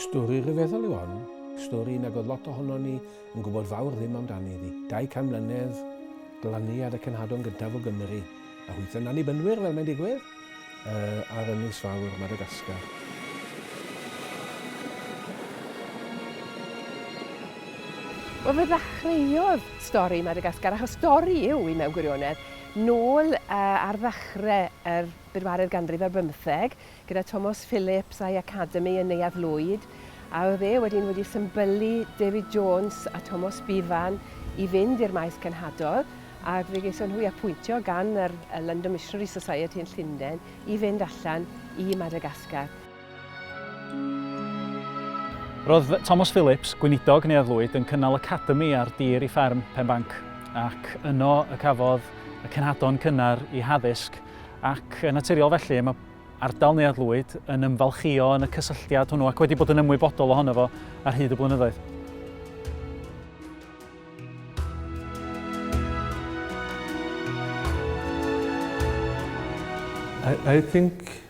Stori rhyfeddol yw hon, stori nag oedd lot ohonon ni yn gwybod fawr ddim amdani iddi. 200 mlynedd, glaniad y cenhadon gyntaf o Gymru, a hwythau'n annibynwyr fel mae'n digwydd, uh, ar Ynys Fawr, Madagascar. Wel, fe ddechreuodd stori Madagascar, achos stori yw i mewn gwirionedd, Nôl ar ddechrau yr bedwaredd ganrif ar bymtheg, gyda Tomos Phillips a'i academi yn Neuadd Lwyd, a oedd e wedyn wedi symbylu David Jones a Tomos Bevan i fynd i'r maes cenhadol, a fe geison nhw eu apwyntio gan yr London Missionary Society yn Llundain i fynd allan i Madagascar. Roedd Thomas Phillips, gweinidog Neuadd Lwyd, yn cynnal academi ar dir i fferm Penbanc, ac yno y cafodd y cenhadon cynnar i haddysg, ac yn naturiol felly, mae ardal Neuadd Lwyd yn ymfalchïo yn y cysylltiad hwnnw ac wedi bod yn ymwybodol ohono fo ar hyd y blynyddoedd. I, I think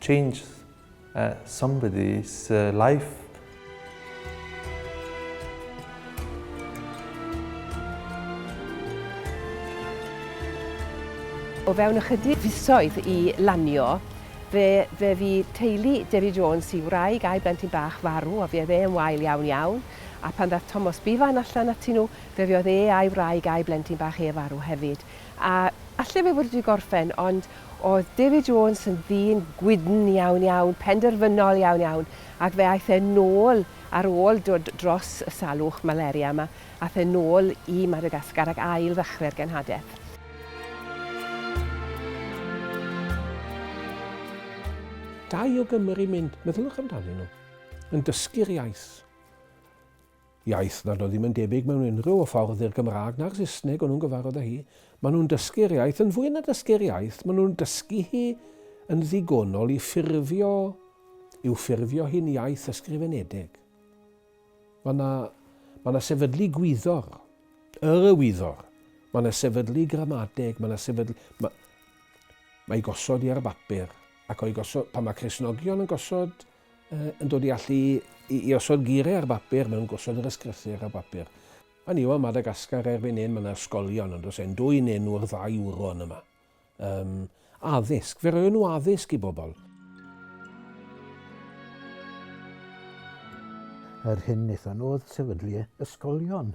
Change somebody's life. O fewn ychydig fisoedd i lanio, fe fe fu teulu Dewi Jones i wraig a'i blentyn bach farw a fuodd e yn wael iawn iawn, a pan ddaeth Tomos Bevan allan atyn nhw, fe fuodd e a'i wraig a'i blentyn bach e farw hefyd. A alle fe fod wedi gorffen, ond Oedd David Jones yn ddyn gwydn iawn iawn, penderfynol iawn iawn, ac fe aeth e nôl ar ôl dod dros y salwch malaria yma, aeth e nôl i Madagascar ac ail ddechrau'r genhadaeth. Da i o Gymru mynd, meddyliwch amdanyn nhw, yn dysgu'r iaith. Iaith nad oedd ddim yn debyg mewn unrhyw ffordd i'r Gymraeg na'r Saesneg o'n nhw'n gyfarfod â hi. Maen nhw'n dysgu'r iaith, yn fwy na dysgu'r iaith, maen nhw'n dysgu hi yn ddigonol i ffurfio, i'w ffurfio hi'n iaith ysgrifenedig. Mae yna, mae yna sefydlu gwyddor, yr y wyddor, mae yna sefydlu gramadeg, mae yna sefydlu... Mae, mae gosod i ar y bapur, ac o'i gosod, pan mae Cresnogion yn gosod yn dod i allu i, i osod geiriau ar bapur, maen nhw'n gosod yr ysgrythur ar bapur. Fan yw o, Madagascar erbyn hyn, mae yna ysgolion, ond os e'n dwy'n enw'r ddau wron yma. Um, addysg, fe roion nhw addysg i bobl. Yr hyn wnaethon nhw oedd sefydlu ysgolion,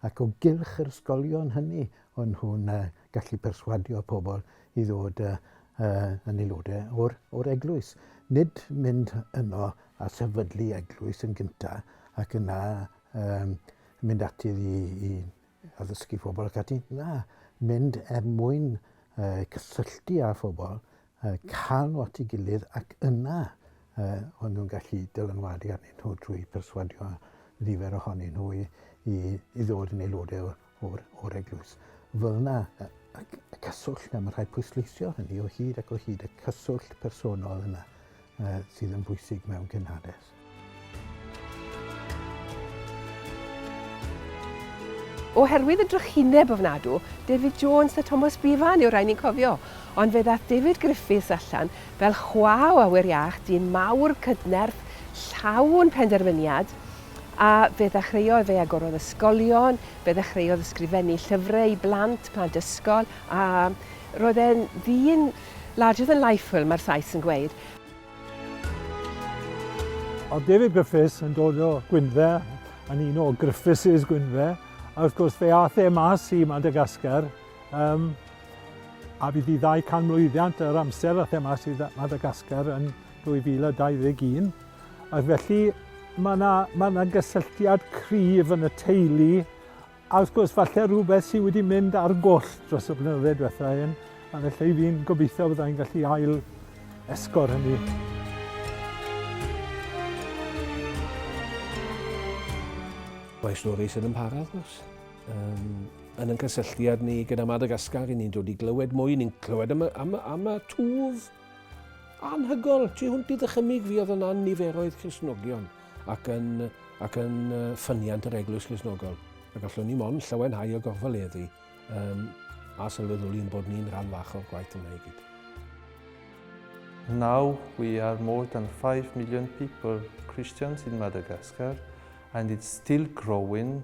ac o gylch yr ysgolion hynny, o'n nhw'n uh, gallu perswadio pobl i ddod yy yy yn aelodau o'r o'r eglwys. Nid mynd yno a sefydlu eglwys yn gynta ac yna um, mynd ati i, i addysgu phobl ac ati. Na, mynd er mwyn uh, cysylltu â phobl uh, calw at ei gilydd ac yna uh, o'n nhw'n gallu dylanwadu arnyn nhw drwy perswadio nifer ohonyn nhw i, i, i ddod yn aelodau o'r, or, or eglwys. Fel yna, y cyswllt yna, mae rhai pwysleisio hynny o hyd ac o hyd y cyswllt personol yna uh, sydd yn bwysig mewn cynhades. Oherwydd y drychineb ofnadw, David Jones a Thomas Bevan yw'r rhai ni'n cofio, ond fe ddaeth David Griffiths allan fel chwa o awyr iach, dyn mawr, cydnerth, llawn penderfyniad, a fe ddechreuodd, fe agorodd ysgolion, fe ddechreuodd ysgrifennu llyfrau i blant, plant ysgol, a roedd e'n ddyn larger than life fel mae'r Sais yn gweud. Oedd David Griffiths yn dod o Gwynfe, yn un o Griffiths' Gwynfe, a wrth gwrs fe ath e mas i Madagascar, um, a bydd i ddau can mlwyddiant yr amser ath e mas i Madagascar yn 2021. Ac felly mae yna, mae yna gysylltiad cryf yn y teulu A wrth gwrs, falle rhywbeth sydd wedi mynd ar goll dros y blynydde diwetha hyn, a felly fi'n gobeithio byddai'n gallu ail esgor hynny. Mae stori sydd yn para, wrth gwrs. Um, yn yn cysylltiad ni gyda Madagascar, ni'n dod i glywed mwy, ni'n clywed am, am, am y twf anhygol tu hwnt i ddychymig fi oedd yna niferoedd Cresnogion. ac yn, ac yn ffyniant yr Eglwys Grisnogol. A gallwn ni mond llawenhau o gorfoleddu um, a sylweddoli yn bod ni'n rhan fach o'r gwaith yma i gyd. Now we are more than 5 million people, Christians in Madagascar, and it's still growing.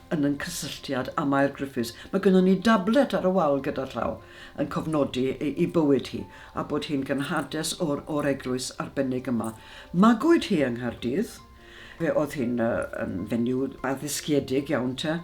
yn yn cysylltiad â Mair Griffiths, mae gynnon ni dablet ar y wal gyda llaw yn cofnodi ei bywyd hi a bod hi'n gynhades o'r o'r eglwys arbennig yma. Magwyd hi yng Nghaerdydd, fe oedd hi'n yn fenyw addysgiedig iawn te,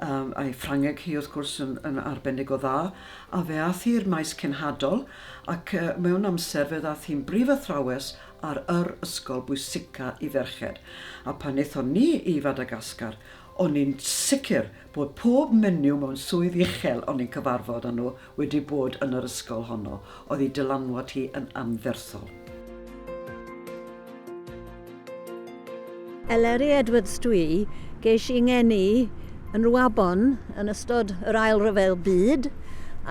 a'i Ffrangeg hi wrth gwrs yn, yn arbennig o dda, a fe ath hi i'r maes cenhadol ac mewn amser fe ddath hi'n brif athrawes ar yr ysgol bwysica i ferched. A pan aethon ni i Fadagascar, O'n ni'n sicr bod pob menyw mewn swydd uchel o'n ni'n cyfarfod â nhw wedi bod yn yr ysgol honno, oedd ei dylanwad hi yn anferthol. Eleri Edwards Dwi geis i 'ngeni yn Rwabon yn ystod yr Ail Ryfel Byd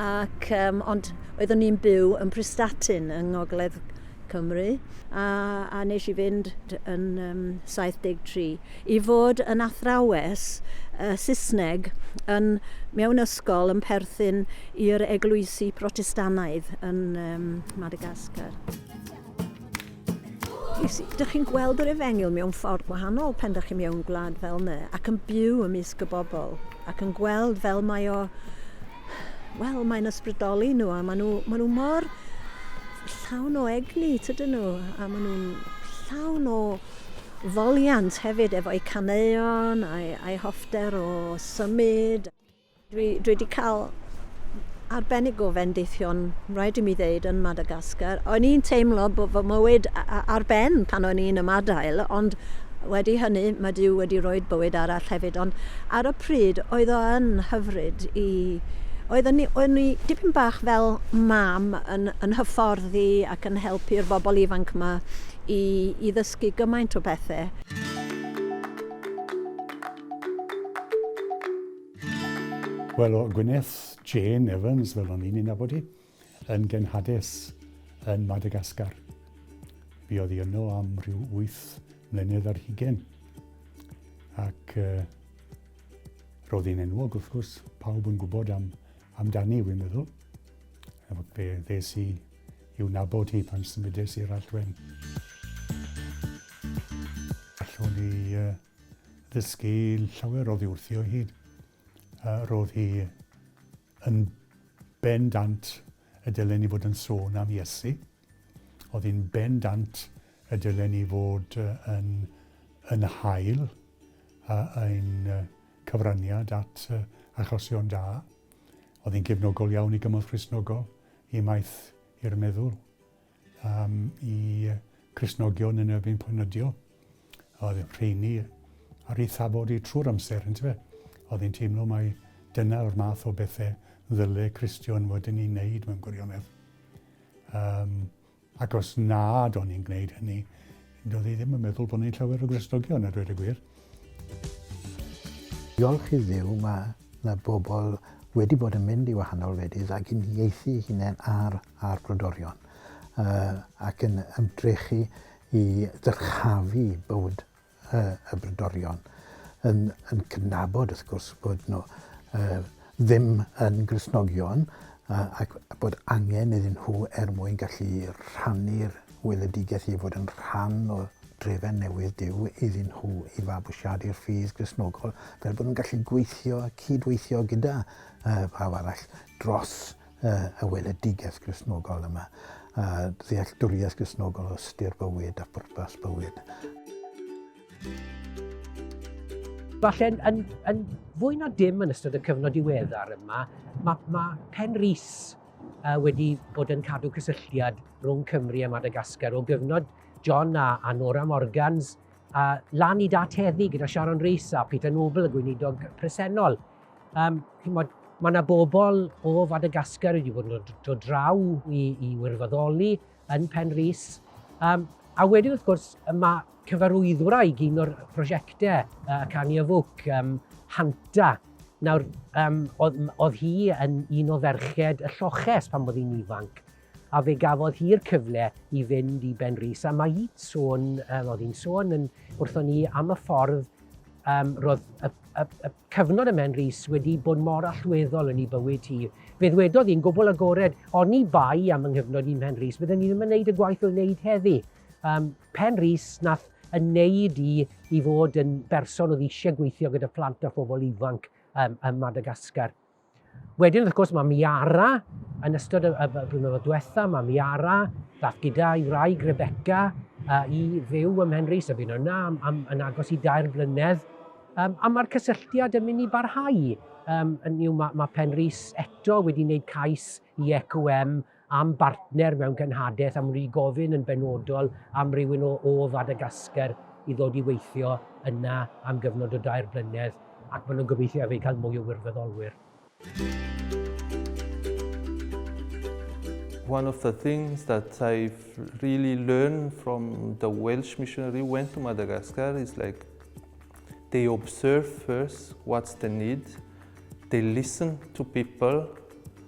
ac um, ond oeddwn i'n byw yn Prestatyn yng Ngogledd Cymru a, a nes i fynd yn um, 73 i fod yn athrawes Saesneg yn mewn ysgol yn perthyn i'r eglwysi Protestannaidd yn Madagascar. Dych chi'n gweld yr efengyl mewn ffordd gwahanol pen dych chi'n mewn gwlad fel yna ac yn byw ymysg y bobl ac yn gweld fel mae o, wel, mae'n ysbrydoli nhw a maen nhw, maen nhw mor llawn o egni, tydyn nhw, a maen nhw'n llawn o foliant hefyd efo'u caneuon a'i, a'i hoffter o symud. Dwi, dwi wedi cael arbennig o fendithion, rhaid i mi ddeud, yn Madagascar. O'n i'n teimlo bod fy mywyd ar ben pan o'n i'n ymadael, ond wedi hynny mae Dyw wedi rhoi bywyd arall hefyd. Ond ar y pryd oedd o yn hyfryd i Oeddwn ni, oeddwn ni dipyn bach fel mam yn, yn hyfforddi ac yn helpu'r bobl ifanc yma i, i ddysgu gymaint o bethau. Wel, o Gwyneth, Jane Evans, fel o'n i'n ei nabod hi. Yn genhadus yn Madagascar. Fi oedd i yno am rhyw 8 mlynedd ar hugen. Ac uh, roedd hi'n enwog, wrth gwrs, pawb yn gwybod am, amdani, wy'n meddwl. Efo fe ddes i i'w nabod hi pan symudes i'r Allwen. Allwn ni uh, ddysgu llawer o ddiwrthio hyd. Uh, roedd hi Yn bendant y dylen ni fod yn sôn am Iesu. Oedd hi'n bendant y dylen ni fod yn, yn hael a ein cyfraniad at achosion da. Oedd hi'n gefnogol iawn i gymorth Christnogol, i maeth i'r meddwl. Am y Cristnogion yn erbyn pornyddio, oedd y rheini ar ei thafod i trwy'r amser, yn tyfe? Oedd e'n teimlo mai dyna o'r math o bethau ddyle Cristion fod yn ei wneud mewn gwirionedd. Um, ac os nad o'n i'n gwneud hynny, doedd ei ddim yn meddwl bod ni'n llawer o Gristnogion, a dweud y gwir. Diolch i ddiw, mae yna bobl wedi bod yn mynd i wahanol wledydd ac yn ieithu hunain ar a'r brodorion ac yn ymdrechu i ddyrchafu bywyd y brodorion, yn cydnabod wrth gwrs bod nhw ddim yn Gristnogion ac bod angen iddyn nhw er mwyn gallu rhannu'r weledigaeth i fod yn rhan o drefen newydd Duw iddyn nhw i fabwysiadu'r ffydd Gristnogol fel bod nhw'n gallu gweithio, cyd-weithio gyda phawb arall dros y weledigaeth Gristnogol yma, a ddealltwriaeth Gristnogol o ystyr bywyd a phwrpas bywyd. Falle yn, yn, yn fwy na dim yn ystod y cyfnod diweddar yma, mae, mae Pen Rhys uh, wedi bod yn cadw cysylltiad rhwng Cymru a Madagascar o gyfnod John a, a Nora Morgans, a lan i dat heddi gyda Sharon Rhys a Peter Noble, y gweinidog presennol. Um, mae yna bobl o Fadagascar wedi bod yn dod draw i, i wirfoddoli yn Pen Rhys. Um, a wedyn, wrth gwrs, mae cyfarwyddwr a'i un o'r prosiectau, uh, Cani Afwc, um, Hanta. Nawr, um, oedd, oedd hi yn un o ferched y lloches pan bod hi'n ifanc. A fe gafodd hi'r cyfle i fynd i Benrhys, a mae hi'n sôn, um, oedd hi'n sôn yn, wrthon ni am y ffordd um, roedd y, y, y cyfnod y Menrhys wedi bod mor allweddol yn ei bywyd hi. Fe ddwedodd hi'n gwbl agored, o'n i bai am yng nghyfnod i'n Penrhys, byddwn ni ddim yn gwneud y gwaith o'n wneud heddi. Um, Penrhys nath yn neud i i fod yn berson oedd eisiau gweithio gyda phlant a phobl ifanc um, ym Madagascar. Wedyn, wrth gwrs, mae Miara yn ystod y, y blynyddoedd diwetha, mae Miara ddath gyda'i wraig Rebecca uh, i fyw ym Mhenrhys a bu'n yna am, am, yn agos i dair blynedd. Um, a mae'r cysylltiad yn mynd i barhau. Um, yn, mae, mae Penrhys eto wedi wneud cais i EQM am bartner mewn cenhadaeth am ry gofyn yn benodol am rywun o o Fadagascar i ddod i weithio yna am gyfnod o dair blynedd ac maen nhw'n gobeithio hefyd cael mwy o wirfoddolwyr. One of the things that I've really learned from the Welsh missionary who went to Madagascar is like they observe first what's the need, they listen to people,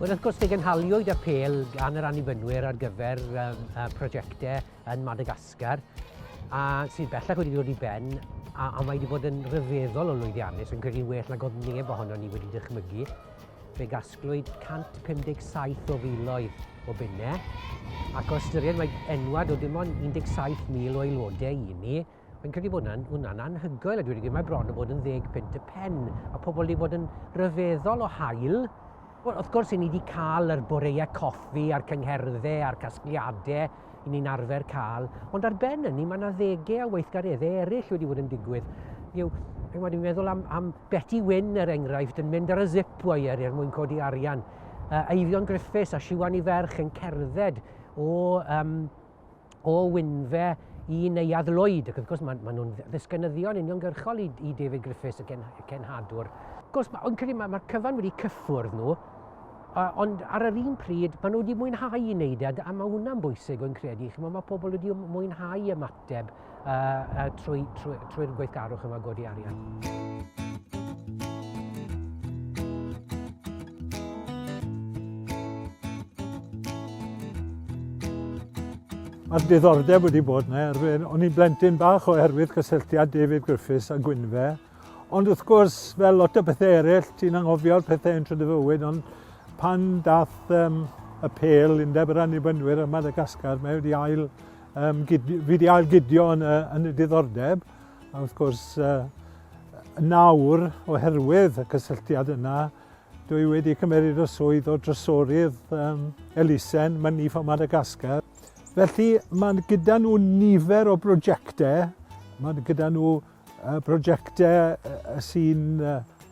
Wel, wrth gwrs, fe gynhaliwyd y pel gan yr annibynwyr ar gyfer um, uh, prosiectau yn Madagascar, a sydd bellach wedi dod i ben, a, a mae wedi bod yn rhyfeddol o lwyddiannus, yn credu well nag oedd neb ohono ni wedi dychmygu. Fe gasglwyd 157 o filoedd o bunnau, ac o ystyried mae enwad o dim ond 17,000 o aelodau i ni, Fi'n credu bod hwnna'n hwnna anhygoel, a dwi wedi gwneud mae bron o bod yn ddeg pint y pen, a pobl wedi bod yn rhyfeddol o hael. Wel, wrth gwrs, i ni wedi cael yr boreau coffi a'r cyngherddau a'r casgliadau, i ni'n arfer cael, ond ar ben hynny mae yna ddegau a weithgareddau eraill wedi bod yn digwydd. Yw, mae dwi'n meddwl am, am Betty Wyn, er enghraifft, yn mynd ar y zip wire er mwyn codi arian. Uh, Eifion Griffiths a Siwan i ferch yn cerdded o, um, o Wynfe i Neuadd Lloyd. Ac wrth gwrs, maen ma nhw'n ddisgynyddion uniongyrchol i, i David Griffiths, y, gen, y cenhadwr. Wrth gwrs, mae'n credu mae'r ma cyfan wedi cyffwrdd nhw, ond ar yr un pryd, maen nhw wedi mwynhau i wneud e, a mae hwnna'n bwysig o'n credu. Chymod, mae pobl wedi mwynhau ymateb uh, uh, trwy'r trwy, trwy gweithgarwch yma godi arian. Mae'r diddordeb wedi bod yna, er o'n i'n blentyn bach oherwydd cysylltiad David Griffiths a Gwynfe, Ond wrth gwrs, fel lot o bethau eraill, ti'n anghofio'r pethau yn trwy fywyd, ond pan dath um, y pel undeb yr annibynwyr ym Madagascar, mae wedi ail, um, gidio, wedi ail gidio yn, uh, yn y diddordeb. A wrth gwrs, uh, nawr, oherwydd y cysylltiad yna, dwi wedi cymeryd y swydd o drysorydd um, Elisen, mae'n nif o Madagascar. Felly, mae gyda nhw nifer o brosiectau, mae gyda nhw Prosiectau sy'n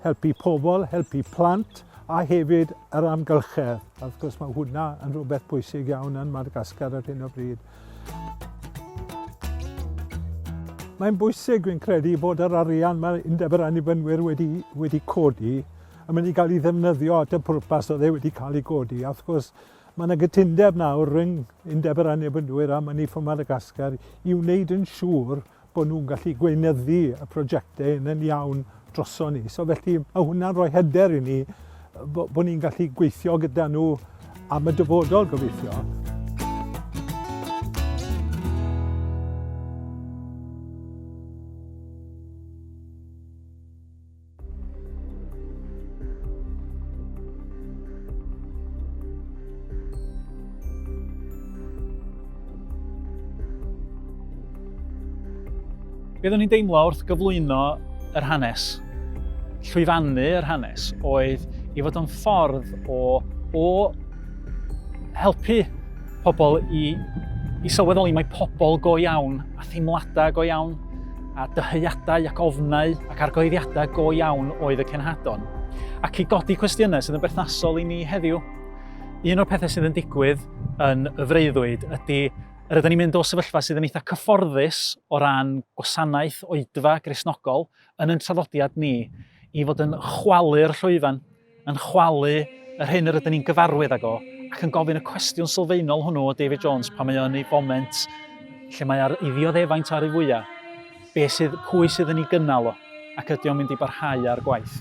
helpu pobl, helpu plant a hefyd yr amgylchedd. Wrth gwrs mae hwnna yn rhywbeth pwysig iawn yn Madagascar ar hyn o bryd. Mae'n bwysig, fi'n credu, bod yr arian mae Undeb yr Annibynwyr wedi, wedi codi yn mynd i gael ei ddefnyddio at y pwrpas oedd e wedi cael ei godi. A wrth gwrs, mae yna gytundeb nawr rhwng Undeb yr Annibynwyr a Money for Madagascar i wneud yn siŵr bod nhw'n gallu gweinyddu y prosiectau yn yn iawn droson ni. So felly mae hwnna'n rhoi hyder i ni bod bo ni'n gallu gweithio gyda nhw am y dyfodol gobeithio. Be oeddwn i'n deimlo wrth gyflwyno yr hanes, llwyfannu yr hanes, oedd i fod yn ffordd o, o helpu pobl i, i sylweddoli mae pobl go iawn a theimladau go iawn a dyheadau ac ofnau ac argyhoeddiadau go iawn oedd y cenhadon, ac i godi cwestiynau sydd yn berthnasol i ni heddiw. Un o'r pethau sydd yn digwydd yn y freuddwyd ydy yr ydym ni'n mynd o sefyllfa sydd yn eitha cyfforddus o ran gwasanaeth oedfa grisnogol yn yn traddodiad ni i fod yn chwalu'r llwyfan yn chwalu yr hyn yr ydyn ni'n gyfarwydd ag o, ac yn gofyn y cwestiwn sylfaenol hwnnw o David Jones pan mae o yn ei foment lle mae ar ei ddioddefaint ar ei fwyaf, be sydd, pwy sydd yn ei gynnal o, ac ydy o'n mynd i barhau â'r gwaith.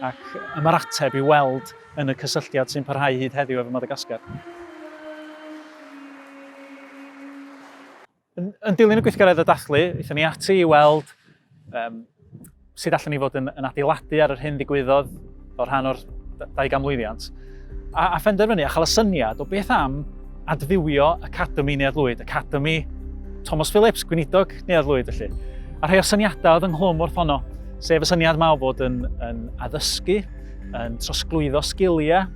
Ac yma'r ateb i weld yn y cysylltiad sy'n parhau hyd heddiw efo Madagascar. Yn, yn dilyn y gweithgaredd o dathlu, eithon ni ati i weld um, sut allan ni fod yn, yn adeiladu ar yr hyn ddigwyddodd o rhan o'r dau gamlwyddiant. A, a phenderfynu a chael y syniad o beth am adfywio Academi Neuadd Lwyd, Academi Thomas Phillips, Gweinidog Neuadd Lwyd felly. A rhai o'r syniadau oedd ynghlwm wrth honno, sef y syniad mae o fod yn, yn addysgu yn trosglwyddo sgiliau,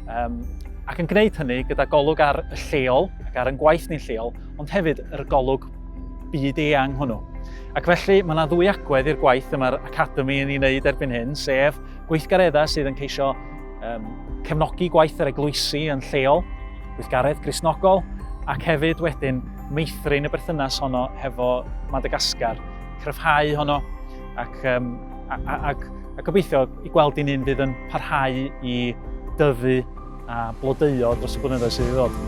um, ac yn gwneud hynny gyda golwg ar y lleol ac ar yn gwaith ni'n lleol, ond hefyd yr golwg byd eang hwnnw. Ac felly mae yna ddwy agwedd i'r gwaith y mae'r Academi yn ei wneud erbyn hyn, sef gweithgareddau sydd yn ceisio um, cefnogi gwaith yr eglwysi yn lleol, gweithgaredd grisnogol, ac hefyd wedyn meithrin y berthynas honno hefo Madagascar, cryfhau honno, Ac, um, a, a, a, a gobeithio i gweld i'n un fydd yn parhau i dyfu a blodeuo dros y blynyddoedd sydd i ddod.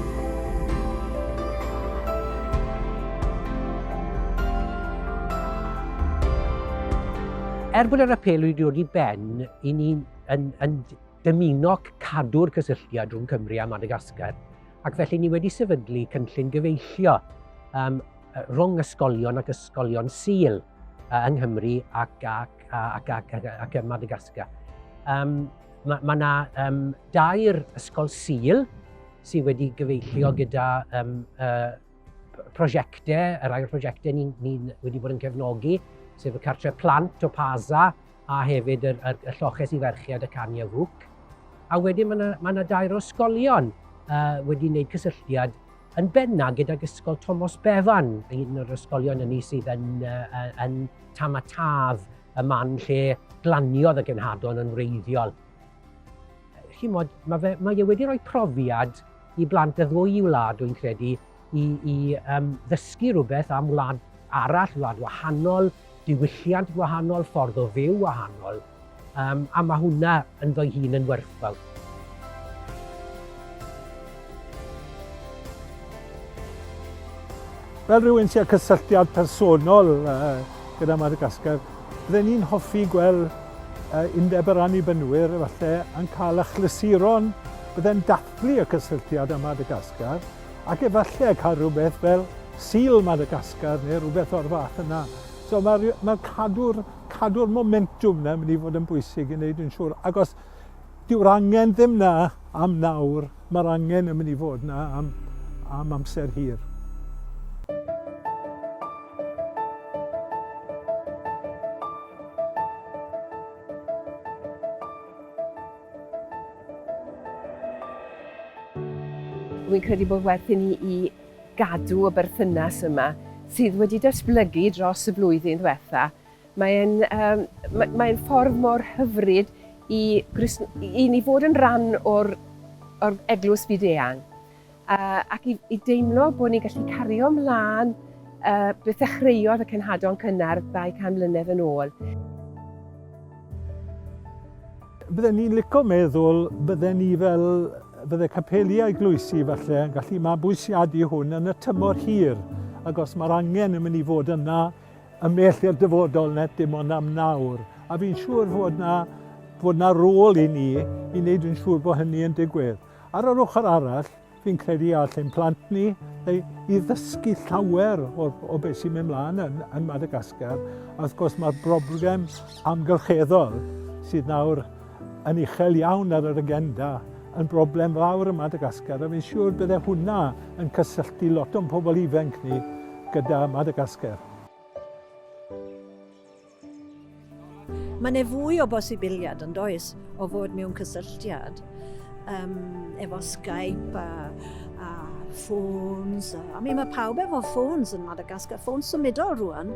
Er bod yr apel wedi dod i ben, i ni yn, yn dymuno cadw'r cysylltiad rhwng Cymru a Madagascar, ac felly ni wedi sefydlu cynllun gyfeillio um, rhwng ysgolion ac ysgolion Sul yng Nghymru ac, ac, ac, ac, ac, ac ym Madagascar. Um, mae yna ma um, dair ysgol Sul sydd wedi gyfeillio gyda um, uh, prosiectau, y rhai prosiectau ni'n ni wedi bod yn cefnogi, sef y cartre plant o Paza a hefyd y, y, y lloches i ferchiad y Cania Fwc. A wedyn mae yna ma dair o ysgolion uh, wedi wneud cysylltiad yn benna gydag Ysgol Tomos Bevan, un o'r ysgolion yn ni sydd yn, uh, yn tam a taf y man lle glaniodd y genhadon yn wreiddiol. Chi'n modd, mae, fe, mae e wedi rhoi profiad i blant y ddwy i wlad, dwi'n credu, i, i um, ddysgu rhywbeth am wlad arall, wlad wahanol, diwylliant gwahanol, ffordd o fyw wahanol. Yym, a mae hwnna ynddo'i hun yn werthfawr. Fel rhywun sy'n cysylltiad personol gyda Madagascar, byddwn ni'n hoffi gweld undeb yr annibynwyr efallai yn cael achlysuron byddai'n dathlu y cysylltiad â Madagascar ac efallai cael rhywbeth fel Seal Madagascar neu rhywbeth o'r fath yna. So mae'r mae cadw'r cadw'r momentwm 'na yn mynd i fod yn bwysig i wneud yn siŵr, ac os dyw'r angen ddim 'na am nawr, mae'r angen yn mynd i fod 'na am, am amser hir. Rwy'n credu bod werth i ni i gadw y berthynas yma sydd wedi datblygu dros y blwyddyn ddiwetha'. Mae'n um, mae, mae ffordd mor hyfryd i, i ni fod yn rhan o'r, or eglwys byd eang uh, ac i, i deimlo bod ni'n gallu cario ymlaen uh, beth ddechreuodd y cenhadon cynnar 200 mlynedd yn ôl. Bydden ni'n lico meddwl bydden ni fel bydde capeli a'i gloesi falle yn gallu mabwysiadu hwn yn y tymor hir ac os mae'r angen yn mynd i fod yna ymell i'r dyfodol net dim ond am nawr a fi'n siŵr fod yna fod yna rôl i ni i wneud yn siŵr bod hynny yn digwydd. Ar yr ochr arall, Fi'n credu y all ein plant ni i ddysgu llawer o, o beth sy'n mynd mlaen yn, yn Madagascar. A wrth gwrs mae'r broblem amgylcheddol sydd nawr yn uchel iawn ar yr agenda yn broblem fawr ym Madagascar a fi'n siŵr bydde hwnna yn cysylltu lot o'n pobl ifanc ni gyda Madagascar. Mae yna fwy o bosibiliad yn does o fod mewn cysylltiad um, efo Skype a, a ffôns. A, I mean, mae pawb efo ffôns yn Madagascar, ffôns symudol rwan.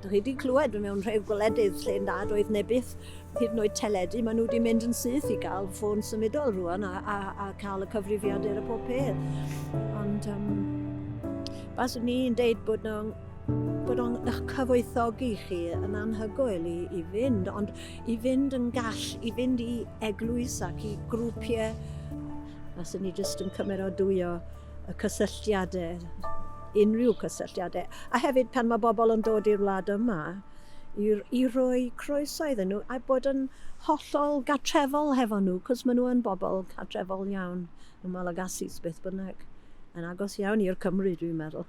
Dych chi wedi clywed mewn rhai gwledydd lle nad oedd nebydd hyd yn oed teledu, maen nhw wedi mynd yn syth i gael ffôn symudol rwan a, a, a cael y cyfrifiadur a pob peth. Ond um, bas ni'n deud bod nhw'n Byddwn ych cyfoethogi chi yn anhygoel i, i fynd, ond i fynd yn gall, i fynd i eglwys ac i grwpiau. A sy'n ni jyst yn cymeradwyo y cysylltiadau, unrhyw cysylltiadau. A hefyd pan mae bobl yn dod i'r wlad yma, i, i roi croeso iddyn nhw a bod yn hollol gatrefol hefo nhw, cos maen nhw yn bobl catrefol iawn. y Malagasis beth bynnag. Yn agos iawn i'r Cymru, dwi'n meddwl.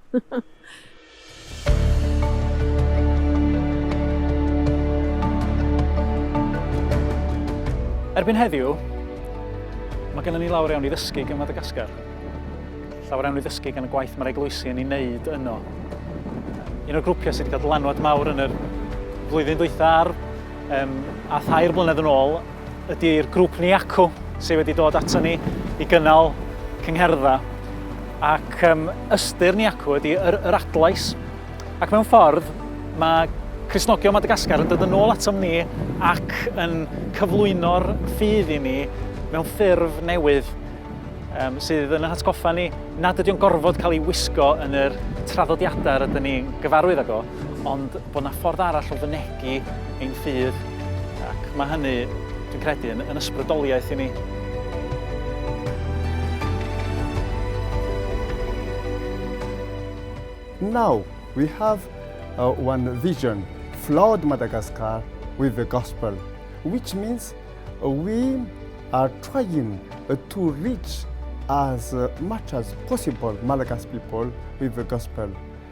Erbyn heddiw, mae gennym ni lawr iawn i ddysgu gan Madagascar. Llawer iawn i ddysgu gan y gwaith mae'r eglwysi yn ei wneud yno. Un o'r grwpiau sydd wedi cael dylanwad mawr yn yr flwyddyn dwytha ar um, a thair blynedd yn ôl ydy'r grŵp Ni Acw sydd wedi dod ato ni i gynnal cyngherdda. Ac um, ystyr Ni Acw ydy yr, yr adlais. Ac mewn ffordd, mae Cresnogion Madagascar yn dod yn ôl atom ni ac yn cyflwyno'r ffydd i ni mewn ffurf newydd um, sydd yn hatgoffa ni nad ydy'n gorfod cael ei wisgo yn yr traddodiadau rydyn ni'n gyfarwydd ag o. ond bod 'na ffordd arall o fynegi ein ffydd, ac mae hynny, dwi'n credu, yn, yn ysbrydoliaeth i ni. Now we have uh, one vision, flood Madagascar with the gospel, which means uh, we are trying uh, to reach as uh, much as possible Malagasy people with the gospel.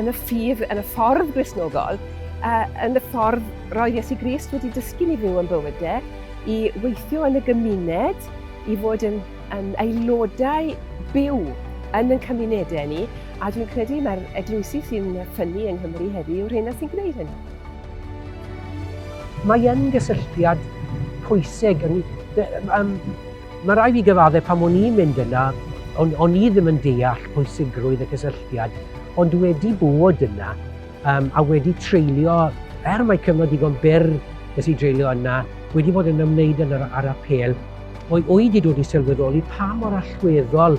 yn y ffydd, yn y ffordd Gristnogol, a yn y ffordd roedd Iesu Grist wedi dysgu ni fyw yn bywydau, e, i weithio yn y gymuned, i fod yn, yn aelodau byw yn y cymunedau ni, a dwi'n credu mae'r eglwysi sy'n ffynnu yng Nghymru heddiw yw'r hyn sy'n gwneud hynny. Mae yn gysylltiad pwysig yn, um, Mae rhaid fi gyfaddef pan o'n i'n mynd yna, o'n, o'n i ddim yn deall pwysigrwydd y cysylltiad, ond wedi bod yna um, a wedi treulio, er mae cyfnod digon byr nes i dreulio yna, wedi bod yn ymwneud yn yr, ar apel, o'i oed i dod i sylweddoli pa mor allweddol